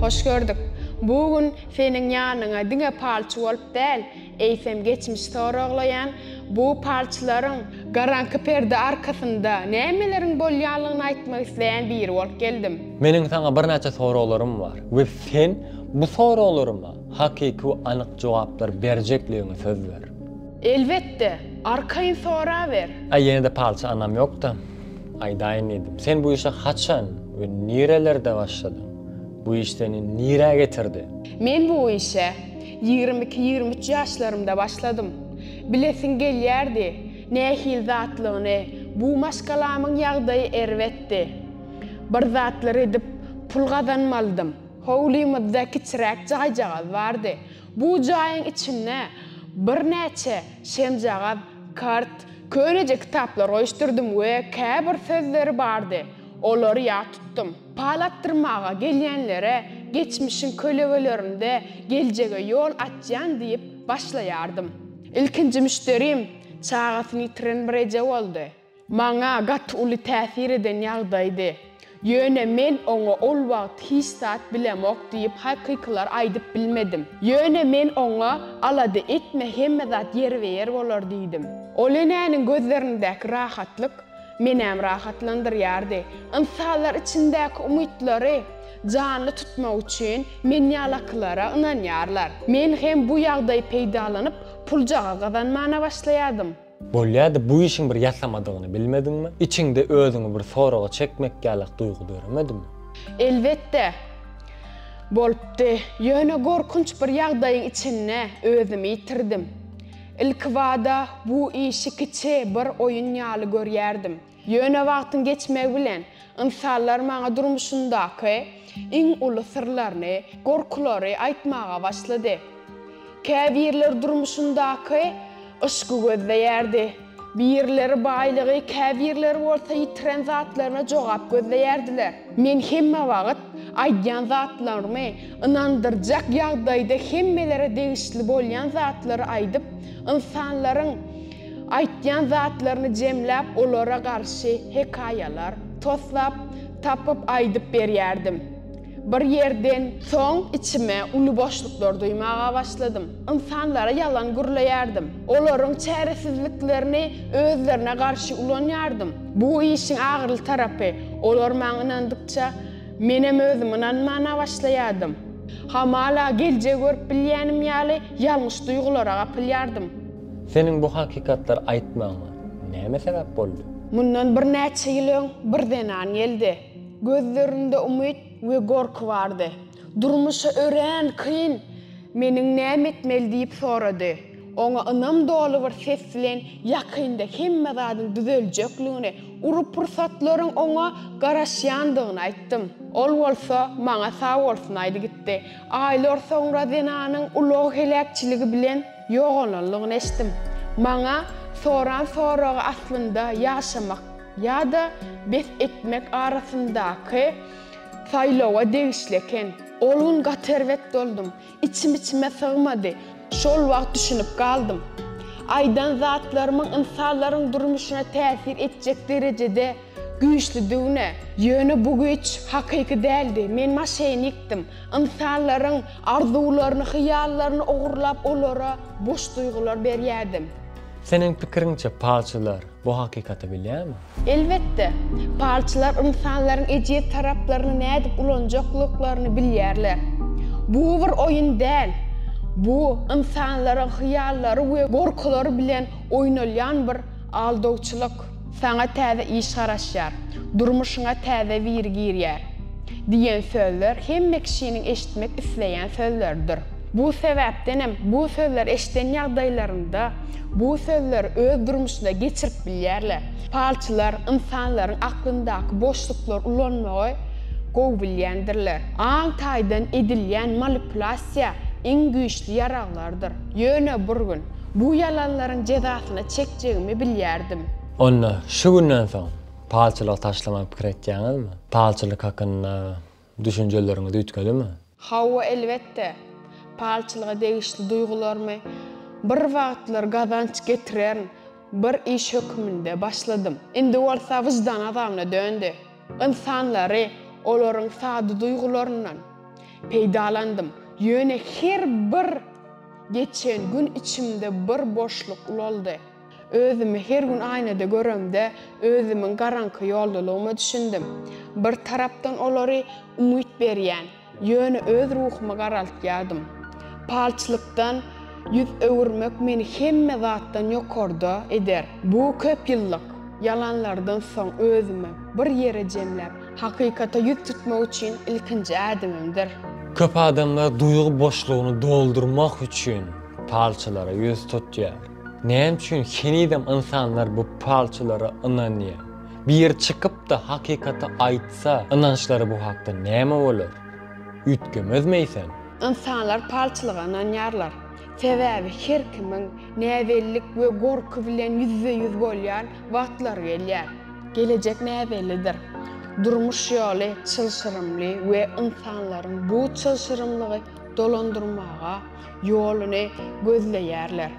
Hoş gördük. Bu gün seniň ýanyňa diňe palçy bolup däl, eýsem geçmiş soraglaýan bu palçylaryň garaňky perde arkasynda nämeleriň bolýanlygyny aýtmak isleýän biri bolup geldim. Meniň saňa birnäçe soraglarym bar we sen bu soraglaryma hakyky we anyk jogaplar berjekligiňe söz ber. Elbetde, arkaýyn soraber. Aý ýene-de palçy anam ýok-da. Aýdaýyn diýdim. Sen bu işe haçan we nirelerde başladyň? Bu iş seni nirä getirdi? Men bu işe ýigrimi iki-ýigrimi üç ýaşlarymda başladym. Bilesiň gelýärdi, nähili zatlygyny, bu maşgalamyň ýagdaýy erbetdi. Bir zatlar edip, pul gazanmalydym. Howlymyzda kiçiräk jaýjagaz bardy. Bu jaýyň içinde birnäçe şemjagaz, Kart, köneje kitaplar goýuşdyrdym we käbir sözleri bardy, olary ýat tutdum. Pal atdyrmaga gelýänlere geçmişiň kölegelerinde geljege ýol açýan diýip başlaýardym. Ilkinji müşderim çagasyny ýitiren bir eje boldy. Maňa gaty uly täsir eden ýagdaýdy. Ýöne men oňa ol wagt hiç zat bilemok diýip hakykylar aýdyp bilmedim. Ýöne men oňa alada etme hemme zat ýerbe-ýer bolar diýdim. Ol enäniň gözlerindäki rahatlyk menem rahatlandyrýardy. Ynsanlar içindäki umytlary janly tutmak üçin men ýalakylara ynanýarlar. Men hem bu ýagdaý peýdalanyp puljaga gazanmana başlaýadym. Bolýady, bu işiň bir ýasamadygyny bilmediňmi? Içiňde özüňi bir soraga çekmek ýalak duýgy döremedimi? Elbetde, bolupdy. Ýöne gorkunç bir ýagdaýyň içinde özümi ýitirdim. Ilkibada bu işi kiçi bir oýun ýaly görýärdim. Ýöne wagtyň geçmegi bilen ynsanlar maňa durmuşyndaky iň uly syrlaryny, gorkulary aýtmaga başlady. Käbirleri durmuşyndaky yşky gözleýärdi, birileri baýlygy, käbirleri bolsa ýitiren zatlaryna jogap gözleýärdiler. Men hemme wagt aýdýan zatlarymy ynandyrjak ýagdaýda hemmelere degişli bolýan zatlary aýdyp, ynsanlaryň Aýtýan zatlaryny jemläp olara garşy hekaýalar toslap tapyp aýdyp berýärdim. Bir ýerden soň içime uly boşluklar duýmaga başladym. Ynsanlara ýalan gürleýärdim. Olaryň çäresizliklerini özlerine garşy ulanýardym. Bu işiň agyryly tarapy, olar maňa ynandykça, menem özüm ynanmana başlaýardym. Hamala geljegi görüp bilýänim ýaly ýalňyş duýgulara gapylýardym. Seniň bu hakykatlary aýtmagyňa näme sebäp boldy? Mundan birnäçe ýyl öň bir zenan geldi. Gözlerinde umyt we gorky bardy. Durmuşy örän kyn, meniň näme etmeli diýip sorady. Oňa ynam doly bir ses bilen ýakynda hemme zadyň düzeljekligini, uly pursatlaryň oňa garaşýandygyny aýtdym. Ol bolsa maňa sag bolsun aýdy gitdi. Aýlar soňra zenanyň ulag heläkçiligi bilen. Ýogalanlygyny eşitdim. Maňa soran soragy aslynda ýaşamak ýa-da bes etmek arasyndaky saýlawa degişli eken. Ol gün gaty erbet boldum. Içim içime sygmady. Şol wagt düşünip galdym. Aýdan zatlarymyň ynsanlaryň durmuşyna täsir etjek derejede. Güýçli düwne, ýöne bu güýç hakyky däldi, men maşenikdim, ynsanlaryň arzuwlaryny, hyýallaryny ogurlap olara boş duýgular berýärdim. Seniň pikiriňçe palçylar bu hakykaty bilýärmi? Elbetde, palçylar ynsanlaryň ejiz taraplaryny nädip ulanjaklyklaryny bilýärler. Bu bir oýun däl, bu ynsanlaryň hyýallary we gorkulary bilen oýnalýan bir aldawçylyk. Saňa täze iş garaşýar, durmuşyňa täze biri girýär diýen sözler hemme kişiniň eşitmek isleýän sözleridir. Bu sebäpdenem bu sözleri eşiden ýagdaýlarynda bu sözleri öz durmuşyna geçirip bilýärler. Palçylar ynsanlaryň aklyndaky boşluklary ulanmagy gowy bilýändirler. Aň taýdan edilýän manipulasiýa iň güýçli ýaraglardyr. Ýöne bir gün Bu ýalanlaryň jezasyny çekjegimi bilýärdim. Onda, şu günden soň palçylygy taşlamagy pikir etýäňizmi? Palçylyk hakynda düşünjeleriňiz üýtgedimi? Hawa, elbetde. Palçylyga degişli duýgularymy bir wagtlar gazanç getiren bir iş höküminde başladym. Indi bolsa wyždan azabna döndi. Ynsanlary, olaryň sada duýgularyndan peýdalandym, ýöne her bir geçen gün içimde bir boşluk ulaldy. Özümi her gün aýnada göremde, özümiň garaňky ýoldalygyma düşündim. Bir tarapdan olary umyt berýän, Ýöne öz ruhumy garaltýardym. Palçlykdan ýüz öwürmek meni hemme zatdan ýokarda eder. Bu köp ýyllyk ýalanlardan soň özümi bir ýere jemläp, hakykata ýüz tutmak üçin ilkinji ädimimdir. Köp adamlar duýgy boşlugyny doldurmak üçin palçylara ýüz tutýar. Näme üçin henizem ynsanlar bu palçylara ynanýar? Biri çykyp-da hakykaty aýtsa, ynançlary bu hakda näme bolar? Üýtgemezmeýsem? Ynsanlar palçylyga ynanýarlar. Sebäbi her kimiň näbellik we gorky bilen ýüzbe-ýüz bolýan wagtlary gelýär. Gelejek näbellidir. Durmuş ýoly çylşyrymly we ynsanlaryň bu çylşyrymlygy dolandyrmaga ýoluny gözleýärler.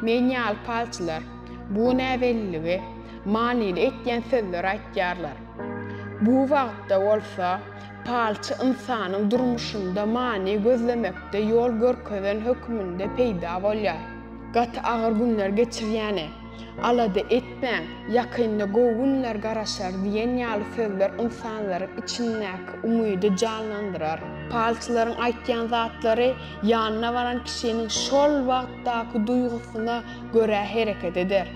Men ýaly palçylar. Bu näbelligi manyly etýän sözler aýtýarlar. Bu wagtda bolsa palçy ynsanyň durmuşynda many gözlemekde ýol görkezen hökmünde peýda bolýar. Gaty agyr günler geçirýäne, Alada etmäň, ýakynda gowy günler garaşar diýen ýaly sözler ynsanlaryň içindäki umydy janlandyrar. Palçylaryň aýtýan zatlary ýanyna baran kişiniň şol wagtdaky duýgusyna görä hereket eder.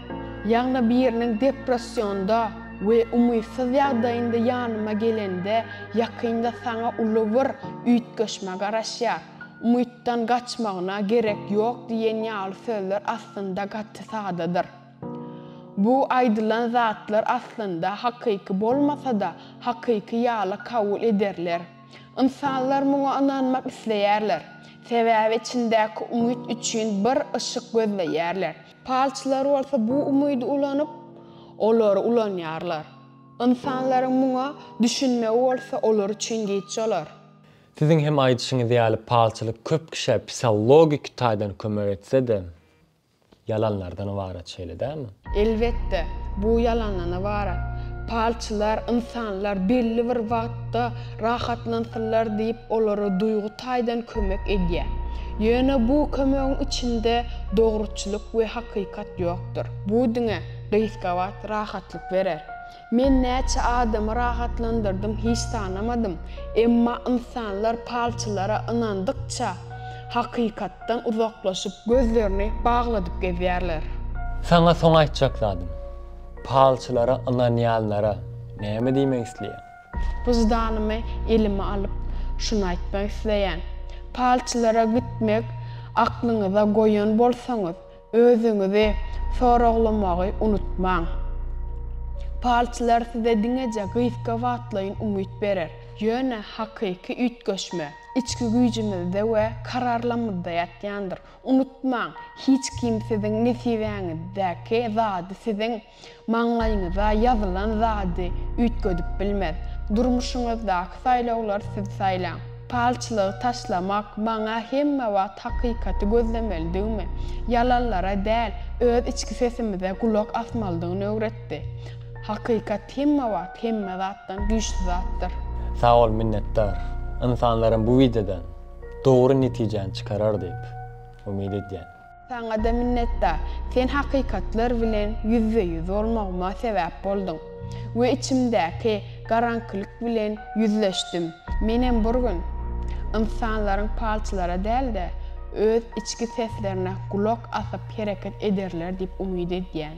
Ýagny biriniň depressionda we umytsyz ýagdaýynda ýanyma gelende ýakynda saňa uly bir üýtgeşme garaşýar. Umytdan gaçmagyna gerek ýok diýen ýaly sözler aslynda gaty sadadyr. Bu aýdylan zatlar aslynda hakyky bolmasa-da hakyky ýaly kabul ederler. Ynsanlar muňa ynanmak isleýärler, sebäbi içindäki umyt üçin bir yşyk gözleýärler. Palçylar bolsa bu umydy ulanyp, olary ulanýarlar. Ynsanlaryň muňa düşünmegi bolsa olar üçin giç olar. Siziň hem aýdyşyňyz ýaly palçylyk köp kişä psihologiki taýdan kömek etse-de, Ýalanlardan ybarat şeýle dälmi? Elbetde, bu ýalandan ybarat. Palçylar ynsanlar belli bir wagtda rahatlansynlar diýip olara duýgy taýdan kömek edýär. Ýöne bu kömegiň içinde dogruçylyk we hakykat ýokdur. Bu diňe gysga wagt rahatlyk berer. Men näçe adamy rahatlandyrdym hiç sanamadym, emma ynsanlar palçylara ynandykça hakykatdan uzaklaşyp gözlerini bagladyp gezýärler. Saňa soň aýtjak zadym, palçylara ynanýanlara näme diýmek isleýän? Wyždanymy elime alyp şuny aýtmak isleýän, palçylara gitmek aklyňyza goýan bolsaňyz, Özüňizi soraglamagy unutmaň. Palçylar size diňeje gysga wagtlaýyn umyt berer, ýöne hakyky üýtgeşme içki güýjümizde we kararlamyzda ýatýandyr. Unutmaň, hiç kim siziň nesibäňizdäki zady siziň. Maňlaýyňyza ýazylan zady üýtgedip bilmez. Durmuşyňyzdaky saýlawlar siz saýlaň. Palçylygy taşlamak maňa hemme wagt hakykaty gözlemelidigimi, ýalanlara däl, öz içki sesimize gulak asmalydygyny öwretdi. Hakykat hemme wagt hemme zatdan güýçli zatdyr. Sag bol minnetdar. Ynsanlaram bu wideodan dogry netijäni çykarar diýip umyt edýän. Saňa-da minnetdar. Sen hakykatlar bilen ýüzbe-ýüz bolmagyma sebäp bolduň we içimdäki garaňkylyk bilen ýüzleşdim. Menem bir gün ynsanlaryň palçylara däl-de, öz içki seslerine gulak asyp hereket ederler diýip umyt edýän.